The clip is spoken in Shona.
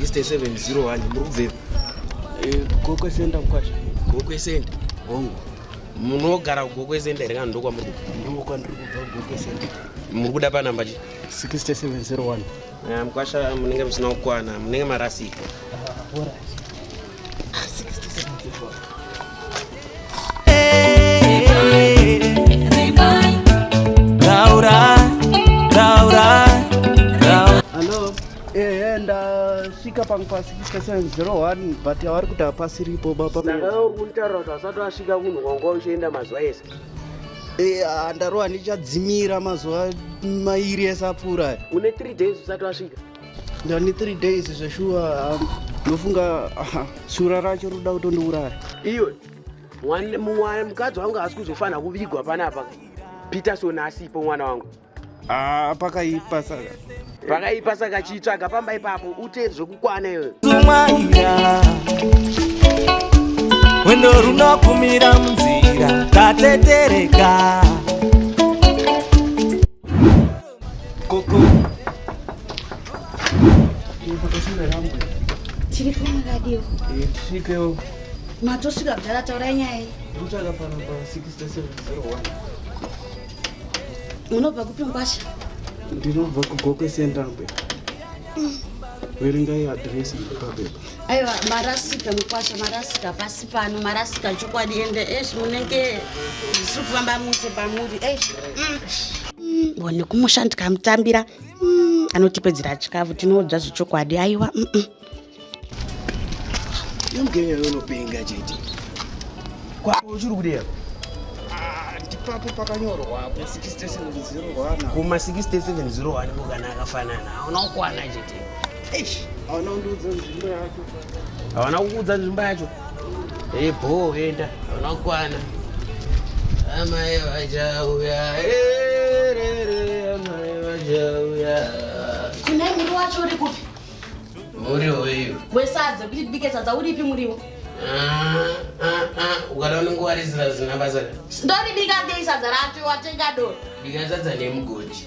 6701 muri kubvepi eh, gokwe senda mkwasha gokwe senda hongu munogara kugokwe senda here kana ndokwamuri ndokwandiri kubva gokwe senda muri kuda panamba chi 6701 eh, mkwasha munenge musina kukwana munenge marasika ah, ndasvika pangu pasi kistation 01 but avari kuti hapasi ripo baba saka uri kunditaura kuti asati asvika kunhu kwanga uchienda mazuva ese eh, ah, ndarova ndichadzimira mazuva mairi ese apfuura une 3 days usati wasvika ndani 3 days zveshuwa um, ndofunga um, shura racho roda kutondiuraya iwe mukadzi wangu haasi kuzofanira kuvigwa panapa peterson asipo mwana wangu ah, pakaipa saka pakaipa saka chitsvaga pamba ipapo ute zvekukwana iwe wendo runokumira munzira tatetereka tiripo makadiwo tisvikewo matosvika kudhara taurai nyaya iyi kutsvaka pano pa 6701 unobva kupi mukwasha ndinobva kugokwe central bank verengai adresi papepa aiwa marasika mukwasha marasika pasi pano marasika chokwadi ende esh munenge zvisiri kufamba mushe pamuri esh mm. mm, one kumusha ndikamutambira mm, anotipedzera chikafu tinoudza zvechokwadi aiwa imgenyayonopenga chete kwako uchiri kudea ipapo pakanyorwa kuma 6701 kana akafanana aona kukwana chete havana kukuudza nzvimbo yacho e bhoo enda havana kukwana amai vachauya erere amai vachauya kune muriwo wacho uri kupi muriwo iyo wesadza kuti tibike sadza uripi muriwo ah, ah, ah, ukada unenge warizira zina basa ndoribika ndei sadza racho watenga do bika sadza nemugoti